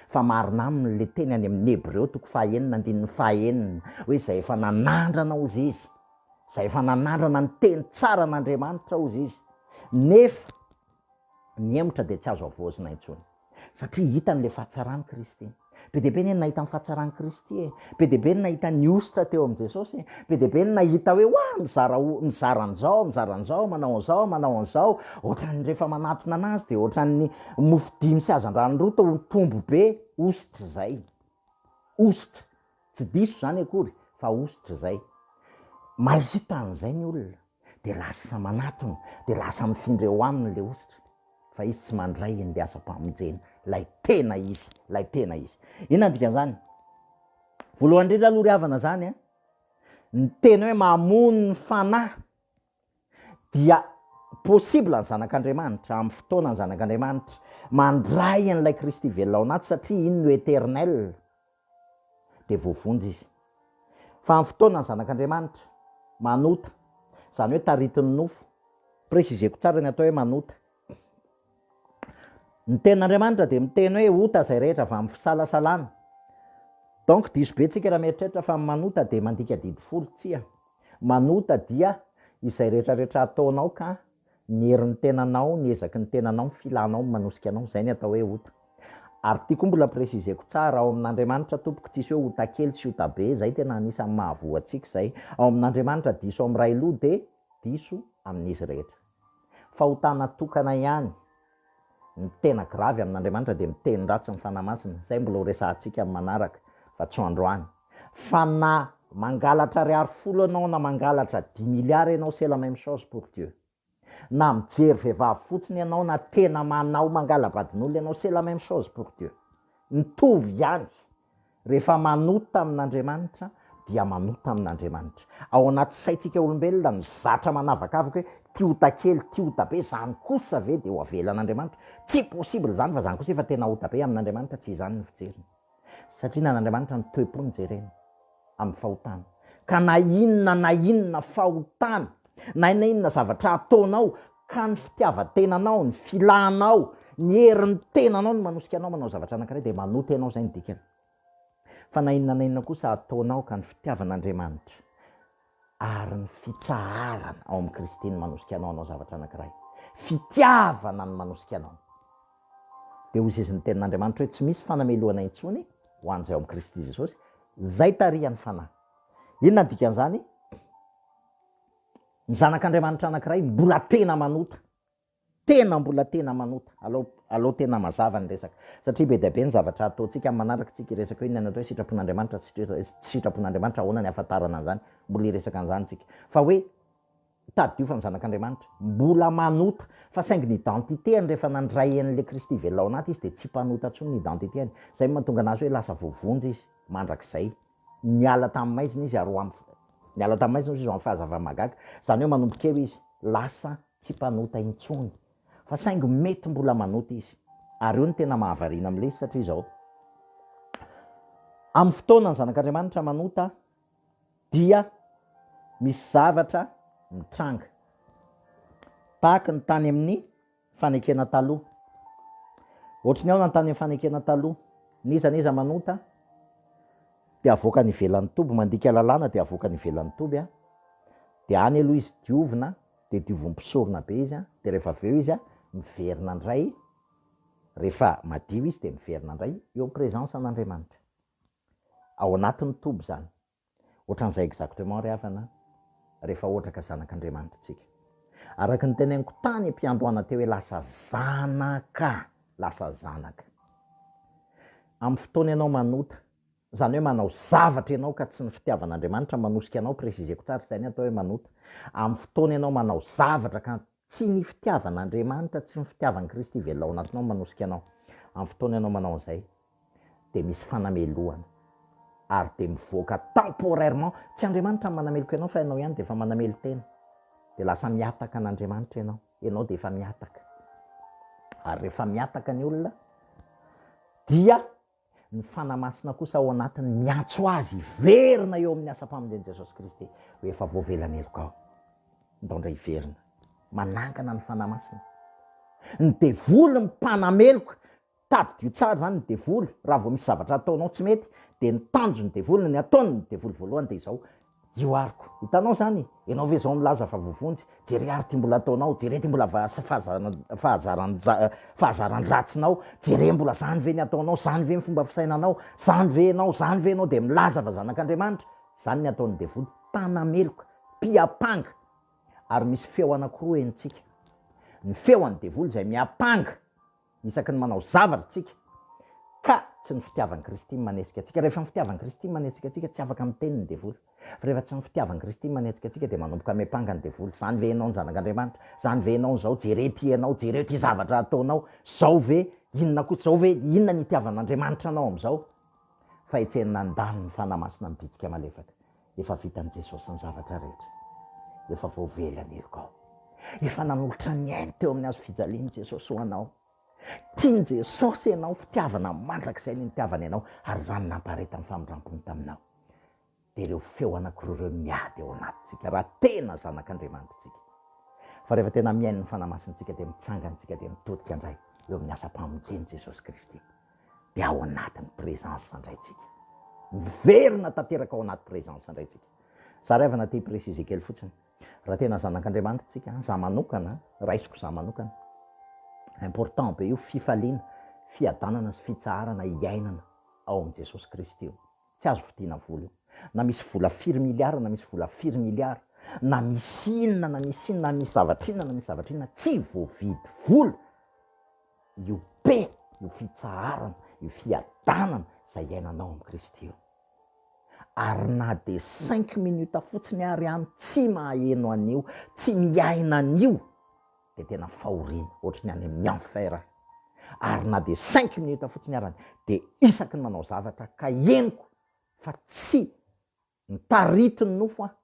Fa marina aminy le teny any amin'ny Hebreo toko fahaenina andininy fahaenina hoe zay efa nanandrana ozy izy, zay efa nanandrana ny teny tsaran'Andriamanitra ozy izy, nefa nihemotra dia tsy azo havaozina intsony. Satria hitany ilay fahatsaran'i Kristy. Be dia be anie ny nahita ny fahatsaran'i Kristy e! Be dia be ny nahita ny hosotra teo amin'i Jesosy e! Be dia be ny nahita hoe oa, mizara ho, mizara an'izao, mizara an'izao, manao an'izao, manao an'izao. Ohatran'ny rehefa manatona anazy dia ohatran'ny mofo dimy sy hazandrano roa tao am-pombo be, hosotra izay. Hosotra. Tsy diso izany akory, fa hosotra izay. Mahita an'izay ny olona. dia lasa manatona, dia lasa mifindra eo aminy ilay hositra, fa izy tsy mandray ny asam-pamonjena, ilay tena izy, ilay tena izy. Inona ny dikan'izany? Voalohany indrindra aloha ry havana izany a, ny teny hoe mamono ny fanahy dia possible ny zanak'Andriamanitra, amin'ny fotoana ny zanak'Andriamanitra, mandray an'ilay Kristy velona ao anaty satria iny no éternel, dia voavonjy izy. Fa amin'ny fotoana ny Zanak'Andriamanitra manota, izany hoe taritin'ny nofo, préciseko tsara ny atao hoe manota, ny tenin'Andriamanitra dia miteny hoe ota izay rehetra avy amin'ny fisalasalana, donc diso be tsika raha mieritreritra fa ny manota dia mandika didy folo, tsia, manota dia izay retraretra ataonao ka. Ny herin'ny tenanao, ny ezaky ny tenanao, ny filanao no manosika anao, izay ny atao hoe ota. Ary tiako mbola préciser-ko tsara, ao amin'Andriamanitra tompoko tsisy hoe ota kely sy ota be, izay tena anisan'ny mahavoa antsika izay, ao amin'Andriamanitra diso amin'ny ray loha dia diso amin'izy rehetra. Fahotana tokana ihany. Ny tena gravy amin'Andriamanitra dia miteny ratsy ny Fanahy Masina, izay mbola ho resahantsika amin'ny manaraka fa tsy ho androany. Fa na mangalatra ariary folo ianao na mangalatra dix milliards ianao c'est la même chose pour Dieu. Na mijery vehivavy fotsiny ianao na tena manao mangala-badin'olona ianao c'est la même chose pour Dieu. Mitovy ihany Rehefa manota amin'Andriamanitra dia manota amin'Andriamanitra. Ao anaty saintsika olombelona no zatra manavakavaka hoe ty ota kely, ty ota be, zany kosa ve dia ho avelan'Andriamanitra? Tsy possible izany fa zany kosa efa tena ota be amin'Andriamanitra, tsy izany ny fijeriny. Satria ny an'Andriamanitra ny toe-pony jereny. amin'ny fahotana. Ka na inona na inona fahotana, na inona inona zavatra ataonao, ka ny fitiavan-tenanao, ny filanao, ny herin'ny tenanao no manosika anao manao zavatra anankiray, dia manota ianao, izay no dikany. Fa na inona na inona kosa ataonao ka ny fitiavan'Andriamanitra. Ary ny fitsaharana ao amin'i Kristy no manosika anao hanao zavatra anankiray. Fitiavana no manosika anao. Dia hoy izy ny Tenin'Andriamanitra hoe tsy misy fanamelohana intsony ho an'izay ao amin'i Kristy Jesosy, izay tarihan'ny Fanahy. Inona no dikan'izany? Ny zanak'Andriamanitra anankiray mbola tena manota. Tena mbola tena manota. Alao alao tena mazava ny resaka. Satria be dia be ny zavatra ataontsika amin'ny manaraka tsika hiresaka hoe inona ny atao hoe sitrapon'Andriamanitra sy tsy sitrapon'Andriamanitra ahoana ny ahafantarana an'izany, mbola hiresaka an'izany tsika. Fa hoe tadidio fa ny zanak'Andriamanitra. Mbola manota. Fa saingy ny identité-any rehefa nandray an'ilay Kristy velona ao anaty izy dia tsy mpanota intsony ny identité-any. Izay no mahatonga anazy hoe lasa voavonjy izy mandrakizay. Niala tamin'ny maizina izy ary ho amin'ny niala tamin'ny maizina izy ho amin'ny fahazava-mahagaga. Izany hoe manomboka eo izy lasa tsy mpanota intsony fa saingy mety mbola manota izy ary io no tena mahavariana amin'ilay izy satria izao, amin'ny fotoana ny zanak'Andriamanitra manota dia misy zavatra mitranga tahaka ny tany amin'ny fanekena taloha, ohatry ny ahoana ny tany amin'ny fanekena taloha? n'iza n'iza manota dia avoakany ivelan'ny toby, mandika lalàna dia avoakany ivelan'ny toby dia any aloha izy diovina, dia diovy mpisorona be izy an, dia rehefa avy eo izy an, miverina indray, rehefa madio izy dia miverina indray eo am presence an Andriamanitra, ao anatin ny toby izany, ohatran'izay exactement ry havana an, rehefa ohatra ka zanak Andriamanitra isika. Araka ny teneniko tany am piandohana teo hoe lasa zanaka, lasa zanaka am fotoana ianao manota, Izany hoe manao zavatra ianao ka tsy ny fitiavan'Andriamanitra manosika anao, préciseko tsara, izay ny atao hoe manota. Amin'ny fotoana ianao manao zavatra ka tsy ny fitiavan'Andriamanitra, tsy ny fitiavan'i Kristy velona ao anatinao no manosika anao, amin'ny fotoana ianao manao an'izay, dia misy fanamelohana, ary dia mivoaka temporairement, tsy Andriamanitra no manameloka ianao fa ianao ihany dia efa manamelo-tena, dia lasa mihataka an'Andriamanitra ianao, ianao dia efa mihataka. Ary rehefa mihataka ny olona dia Ny Fanahy Masina kosa ao anatiny miantso azy hiverina eo amin'ny asam-pamonjen'i Jesosy Kristy ho efa voavelan'ny heloka ao. Nitaondra hiverina. Manangana ny Fanahy Masina. Ny devoly mpanameloka, tadidio tsara izany ny devoly, raha vao misy zavatra ataonao tsy mety dia ny tanjon'ny devoly, ny ataon'ny devoly voalohany dia izao, Io ariko. Hitanao zany? Ianao ve zao milaza fa voavonjy? Jere ary ty mbola ataonao, jere ty mbola fahazaran dratsinao, jere mbola zany ve ny ataonao, zany ve ny fomba fisainanao, zany ve ianao, zany ve ianao dia milaza fa zanak'Andriamanitra? Zany ny ataon'ny devoly, mpanameloka, mpiapanga. Ary misy feo anakiroa henontsika. Ny feo an'ny devoly izay miapanga. isaky ny manao zavatra tsika ka tsy ny fitiavan'i Kristy manetsika antsika. Rehefa ny fitiavan'i Kristy manetsika antsika, tsy afaka miteny ny devoly. Fa rehefa tsy ny fitiavan'i Kristy manetsika antsika dia manomboka miampanga ny devoly, zany ve ianao ny zanak'Andriamanitra? Zany ve ianao izao? Jereo ity ianao, jereo ity zavatra ataonao, zao ve? Inona koa? Zao ve? Inona ny itiavan'Andriamanitra anao amin'izao? Fahetsena nandalo ny Fanahy Masina mibitsika malefaka. Efa vitan'i Jesosy ny zavatra rehetra. Efa voavela ny heloka ao. Efa nanolotra ny ainy teo amin'ny hazo fijaliany Jesosy ho anao. Tian'i Jesosy ianao, fitiavana mandrakizay ny nitiavany anao ary izany nampaharetan'ny famindrampony taminao. Dia ireo feo anankiroa ireo no miady ao anatintsika raha tena zanak'Andriamanitra isika. Fa rehefa tena mihaino ny Fanahy Masintsika dia mitsangana isika dia mitodika indray eo amin'ny asam-pamonjen'i Jesosy Kristy. dia ao anatin'ny présence indray tsika. Miverina tanteraka ao anaty présence indray tsika. Zary avy anaty prix izay kely fotsiny. Raha tena zanak'Andriamanitra tsika, za manokana, raisiko za manokana. Important be io fifaliana, fiadanana sy fitsaharana iainana ao amin'i Jesosy Kristy io. Tsy azo vidiana vola io. Na misy vola firy miliara, na misy vola firy miliara, na misy inona na misy inona, na misy zavatra inona na misy zavatra inona, tsy voavidy vola io be, io fitsaharana, io fiadanana izay iainanao amin'i Kristy io. Ary na dia cinq minutes fotsiny ary any tsy maheno an'io, tsy miaina an'io. dia tena fahoriana ohatry ny any amin'ny enfer aho, ary na dia cinq minutes fotsiny arany dia isaky ny manao zavatra ka henoko fa tsy mitarity ny nofo aho,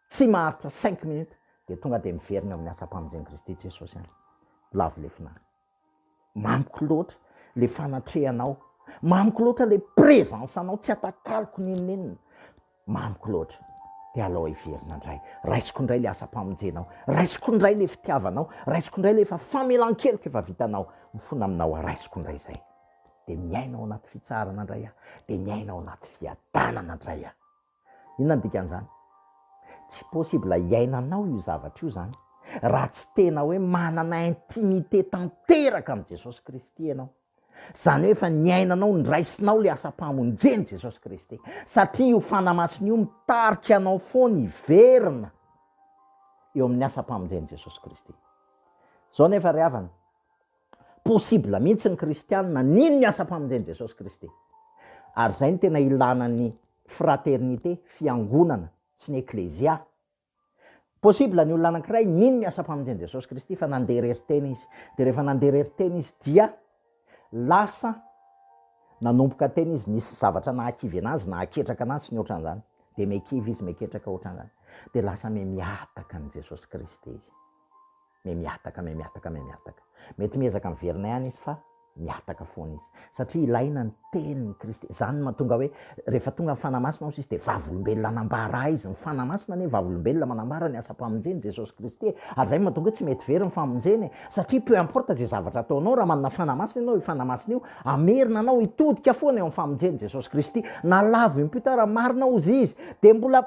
tsy maharitra cinq minutes dia tonga dia miverina eo amin'ny asam-pamonjen'i Kristy Jesosy any, lavo lefona any. Mamiko loatra le fanatrehanao, mamiko loatra le presence anao tsy atakaloko nenonenona, mamiko loatra de alao heverina ndray, raisiko ndray le asam-pamonjenao, raisiko ndray le fitiavanao, raisiko ndray le efa famelan-keloka efa vitanao, mifona aminao aho, raisiko ndray zay, de miaina ao anaty fitsaharana ndray aho, de miaina ao anaty fiadanana ndray aho. Inona no dikan'izany? Tsy possible hiainanao io zavatra io izany raha tsy tena hoe manana intimité tanteraka amin'i Jesosy Kristy ianao. Izany hoe efa niainanao, niraisinao ilay asam-pamonjen'i Jesosy Kristy. Satria io fanahy masina io mitarika anao foana hiverina eo amin'ny asam-pamonjen'i Jesosy Kristy. Izao nefa ry havana, Possible mihitsy ny kristianina nino ny asam-pamonjen'i Jesosy Kristy. Ary izay no tena ilana ny fraternité, fiangonana, sy ny eklezia. Possible ny olona anankiray nino ny asam-pamonjen'i Jesosy Kristy fa nandeha irery tena izy. Dia rehefa nandeha irery tena izy dia lasa nanomboka tena izy, nisy zavatra nahakivy anazy, nahaketraka anazy, sy ny ohatran'izany. Dia mekivy izy, meketraka ohatran'izany. Dia lasa miha mihataka an'i Jesosy Kristy izy. May mihataka, may mihataka, may mihataka. Mety miezaka miverina ihany izy fa mihataka foana izy. Satria ilaina ny tenin'i Kristy. Izany no mahatonga hoe rehefa tonga ny Fanahy Masina hozy izy dia vavolombelona anambara izy. Ny Fanahy Masina anie vavolombelona manambara ny asam-pamonjen'i Jesosy Kristy e. Ary izay no mahatonga hoe tsy mety very ny famonjena e. Satria peu importe izay zavatra ataonao, raha manana Fanahy Masina ianao, io Fanahy Masina io hamerina anao hitodika foana eo amin'ny famonjen'i Jesosy Kristy. Na lavo impio tara marina hozy izy dia mbola.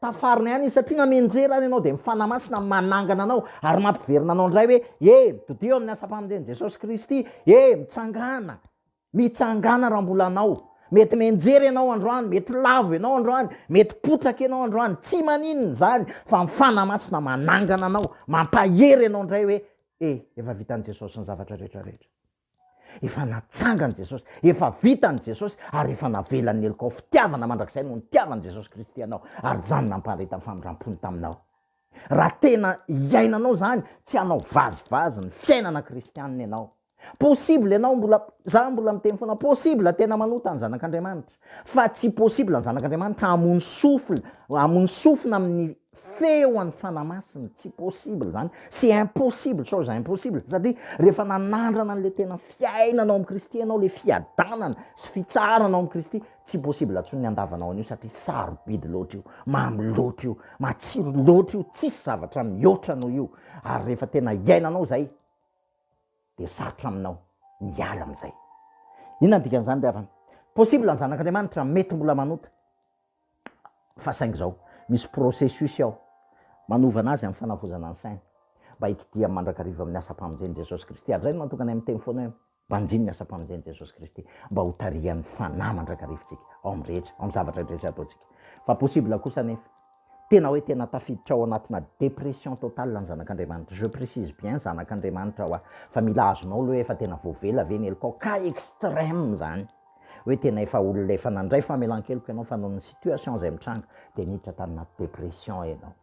Tafarina ihany izy satria namenjera ary ianao dia ny Fanahy Masina manangana anao ary mampiverina anao indray hoe e! Mitodiho amin'ny asam-pamonjen'i Jesosy Kristy e! Mitsangàna! Mitsangàna raha mbola anao. Mety menjera ianao androany, mety lavo ianao androany, mety potraka ianao androany, tsy maninona izany fa ny Fanahy Masina manangana anao, mampahery ianao indray hoe e! Efa vitan'i Jesosy ny zavatra rehetra rehetra. Efa natsangany Jesosy, efa vitany Jesosy, ary efa navelany ny helokao. Fitiavana mandrakizay no nitiavan'i Jesosy Kristy anao, ary izany nampaharetan'ny famindrampony taminao. Raha tena iainanao izany, tsy hanao vazivazy ny fiainana kristianina ianao. Possible ianao mbola, izaho mbola miteny foana, possible tena manota ny Zanak'Andriamanitra, fa tsy possible ny Zanak'Andriamanitra hamono souffle, hamono sofina amin'ny Feo an'i Fanahy Masina, tsy possible izany, c'est impossible, chose impossible, satria rehefa nanandrana an'ilay tena fiainana ao amin'i Kristy ianao, ilay fiadanana sy fitsarana ao amin'i Kristy, tsy possible intsony ny handavanao an'io satria sarobidy loatra io, mamy loatra io, matsiro loatra io, tsisy zavatra mihoatra noho io, ary rehefa tena iainanao izay dia sarotra aminao ny hiala amin'izay. Inona ny dikan'izany ry havana? Possible ny Zanak'Andriamanitra, mety mbola manota. Fa saingy izao, misy processus ao manovana azy amin'ny fanavozana ny saina, mba hitodihany mandrakariva amin'ny asam-pamonjen'i Jesosy Kristy. Ary izay no mahatonga anay miteny foana hoe, Banjino ny asam-pamonjen'i Jesosy Kristy, mba hotarihan'ny Fanahy mandrakarivintsika, ao amin'ny rehetra, ao amin'ny zavatra rehetra izay ataontsika. Fa possible kosa anefa, tena hoe tena tafiditra ao anatina dépression totale ny zanak'Andriamanitra, je précise bien, zanak'Andriamanitra ho'a, fa mila azonao aloha hoe efa tena voavela ve ny helokao, cas extrême izany. hoe tena efa olona efa nandray famelan-keloka ianao fa noho ny situation izay mitranga dia niditra tany anaty dépression ianao.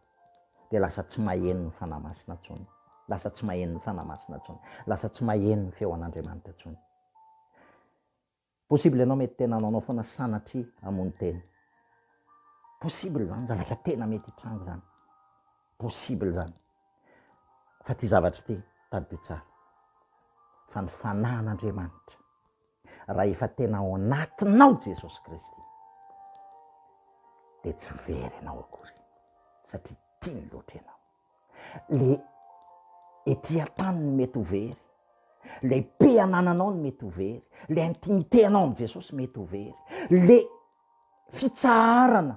Dia lasa tsy maheno ny Fanahy Masina intsony. Lasa tsy maheno ny Fanahy Masina intsony. Lasa tsy maheno ny feo an'Andriamanitra intsony. Possible ianao mety tena nanao foana sanatria hamono tena. Possible izany, zavatra tena mety hitranga izany. Possible izany. Fa ity zavatra ity, tadidio tsara. Fa ny Fanahin'Andriamanitra Raha efa tena ao anatinao Jesosy Kristy dia tsy very ianao akory satria tiany loatra ianao. Le ety an-tany no mety ho very, le pe anananao no mety ho very, le intimité-nao amin'i Jesosy mety ho very, le fitsaharana,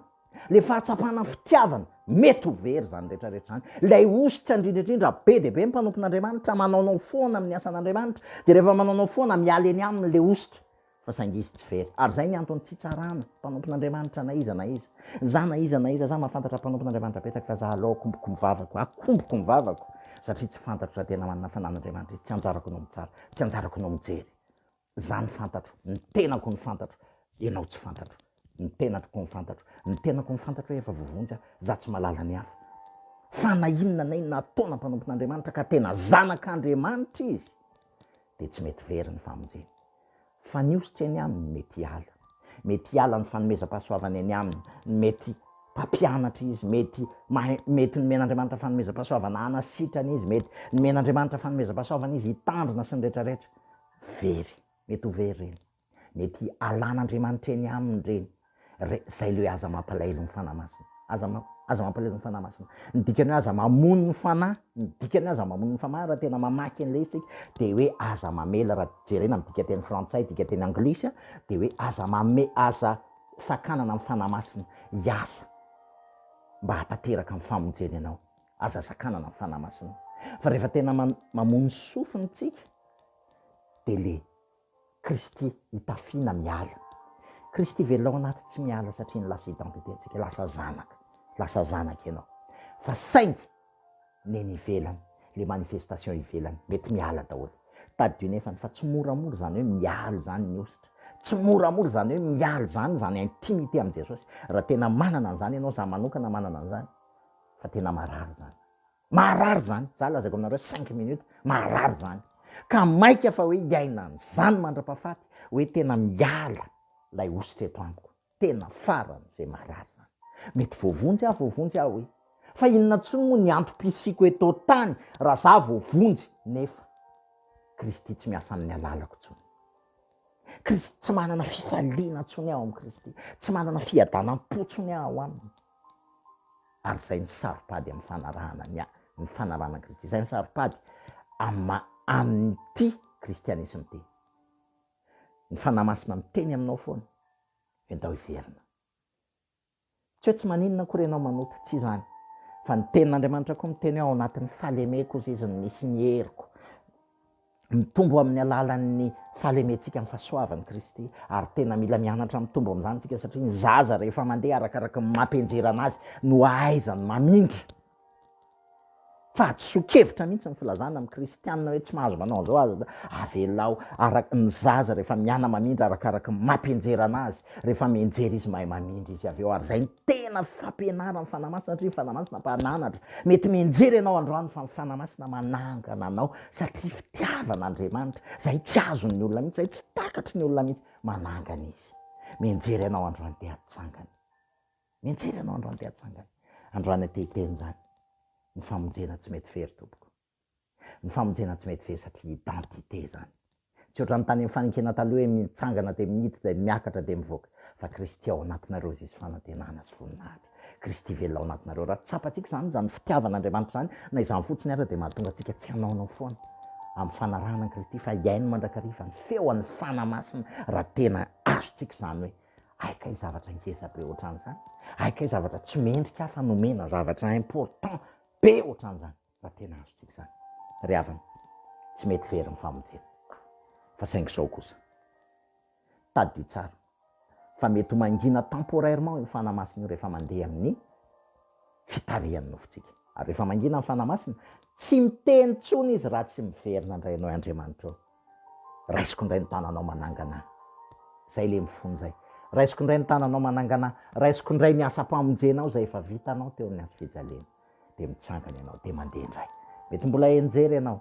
ilay fahatsapana fitiavana, mety ho very izany rehetrarehetra izany. Ilay hosotra indrindra indrindra be dia be ny mpanompon'Andriamanitra, manaonao foana amin'ny asan'Andriamanitra, dia rehefa manaonao foana, miala eny aminy ilay hosotra, fa saingy izy tsy very. Ary izay ny antony tsy hitsarana mpanompon'Andriamanitra na iza na iza. Izaho na iza na iza, izaho mahafantatra mpanompon'Andriamanitra betsaka, fa izaho aleo akomboko ny vavako, akomboko ny vavako, satria tsy fantatro raha tena manana fananan'Andriamanitra izy, tsy anjarako no mitsara, tsy anjarako no mijery. Zany fantatro, ny tenako no fantatro, enao tsy fantatro, ny tenatko no fantatro, ny tenako no fantatro hoe efa voavonjy aho, za tsy malala ny hafa. Fa na inona na inona ataona mpanompon'Andriamanitra ka tena zanak'Andriamanitra izy dia tsy mety very ny famonjeny. Fa ny hosotra eny aminy mety hiala, mety hiala ny fanomezam-pahasoavany eny aminy, mety mpampianatra izy, mety mahay, mety nomen'Andriamanitra fanomezam-pahasoavana hanasitrana izy, mety nomen'Andriamanitra fanomezam-pahasoavana izy hitandrina sy ny retraretra. Very, mety ho very ireny. Mety alan'Andriamanitra eny aminy ireny. Re, zay le hoe aza mampalahelo ny Fanahy Masina. Aza ma, aza mampalahelo ny Fanahy Masina. Ny dikany hoe aza mamono ny Fanahy, ny dikany hoe aza mamono ny Famahy raha tena mamaky an'ilay izy tsika, dia hoe aza mamela, raha jerena amin'ny dikanteny frantsay, dikanteny anglisy an, dia hoe aza mame, aza sakanana ny Fanahy Masina hiasa mba hahatanteraka ny famonjeny anao. Aza sakanana ny Fanahy Masina. Fa rehefa tena mamoa ny sofiny tsika dia le Kristy itafiana miala. Kristy velona ao anaty tsy miala satria ny lasa identité ntsika, lasa zanaka, lasa zanaka ianao. Fa saingy ny eny ivelany, le manifestation ivelany, mety miala daholo. Tadidio ny efany fa tsy moramora izany hoe miala izany ny hosotra. Tsy moramora izany hoe miala izany izany intimité amin'i Jesosy. Raha tena manana an'izany ianao, za manokana manana an'izany, fa tena marary zany marary zany za lazaiko aminareo cinq minutes marary zany ka maika fa hoe hiaina an'zany mandra-pahafaty hoe tena miala lay osy teto amiko tena farany zay marary zany mety voavonjy aho voavonjy aho e fa inona tsony moa ny antom-pisiako eto tany raha za voavonjy nefa kristy tsy miasa amin'ny alalako tsony kristy tsy manana fifaliana tsony aho amin'i kristy tsy manana fiadanam-potsony aho aminy Ary izay no saro-pady amin'ny fanarahana ny ny fanarahana an'i Kristy. Izay no saro-pady amin'ny maha amin'ity kristianisma ity. Ny Fanahy Masina miteny aminao foana hoe ndao hiverina. Tsy hoe tsy maninona akory ianao manota, tsy izany, fa ny tenin'Andriamanitra koa miteny hoe ao anatin'ny fahalemeko hozy izy no misy ny heriko. mitombo amin'ny alalan'ny fahalementsika amin'ny fahasoavan'i Kristy, ary tena mila mianatra mitombo amin'izany isika satria ny zaza rehefa mandeha arakaraka ny maha mpianjerana azy no hahaizany mamindra. Fahadisoan-kevitra mihitsy ny filazana amin'ny kristianina hoe tsy mahazo manao an'izao aza da avelao araka ny zaza rehefa miana mamindra arakaraka ny maha mpianjerana azy, rehefa mianjera izy mahay mamindra izy avy eo ary izay Tena fampianaran ny Fanahy Masina satria ny Fanahy Masina mpananatra. Mety mianjera ianao androany fa ny Fanahy Masina manangana anao satria fitiavan Andriamanitra izay tsy azon ny olona mihitsy, izay tsy takatry ny olona mihitsy, manangana Izy. Mianjera ianao androany te hatsangana. Mianjera ianao androany te hatsangana. Androany te hiteny izany. Ny famonjena tsy mety very tompoko. Ny famonjena tsy mety vesatry identité zany. Tsy ohatran'ny tany amin'ny faninkena taloha hoe mitsangana dia miditra dia miakatra dia mivoaka. Fa Kristy ao anatinareo izy fanantenana sy voninahitra. Kristy velona ao anatinareo. Raha tsapantsika izany, izany fitiavan'Andriamanitra izany, na izany fotsiny ara dia mahatonga antsika tsy hanaonao foana amin'ny fanarahana an'i Kristy fa hihaino mandrakariva ny feon'ny Fanahy Masina raha tena azontsika izany hoe hay kay zavatra ngeza be ohatran'izany, hay kay zavatra tsy mendrika aho fa nomena zavatra important be ohatran'izany. Raha tena azontsika izany, ry havana, tsy mety very ny famonjena. Fa saingy izao kosa. Tadidio tsara fa mety ho mangina temporairement io Fanahy Masina io rehefa mandeha amin'ny fitarihan'ny nofontsika. Ary rehefa mangina ny Fanahy Masina, tsy miteny intsony Izy raha tsy miverina indray ianao, Andriamanitra ô, raisiko indray ny tananao manangana ahy. Izay ilay mifono izay. Raisiko indray ny tananao manangana ahy. Raisiko indray ny asam-pamonjenao izay efa vitanao teo amin'ny hazofijaliana. dia mitsangana ianao dia mandeha indray. Mety mbola henjery ianao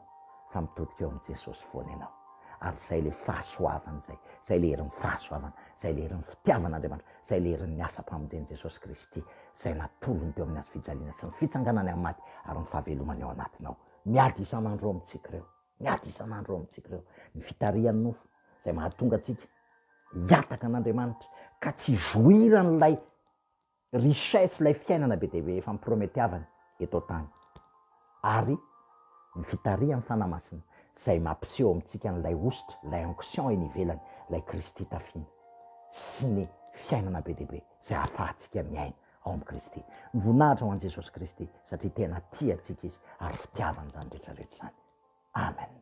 fa mitodika eo amin'i Jesosy foana ianao. Ary izay ilay fahasoavana izay, izay ilay herin'ny fahasoavana, izay ilay herin'ny fitiavan'Andriamanitra, izay ilay herin'ny asam-pamonjen'i Jesosy Kristy, izay natolony teo amin'ny hazofijaliana sy ny fitsanganany amin'ny maty ary ny fahavelomany ao anatinao. Miady isan'andro eo amintsika ireo. Miady isan'andro eo amintsika ireo. Ny fitarihan'ny nofo izay mahatonga antsika hiataka an'Andriamanitra ka tsy hijoiran'ilay Richesse ilay fiainana be dia be efa miprometiavana eto an-tany. Ary ny fitarihan'ny Fanahy Masina izay mampiseho amintsika an'ilay hosotra, ilay onction eny ivelany, ilay Kristy tafiana. Sy ny fiainana be dia be izay ahafahantsika miaina ao amin'i Kristy. Ny voninahitra ho an'i Jesosy Kristy satria tena tia antsika Izy ary fitiavany izany rehetra rehetra izany. Amen.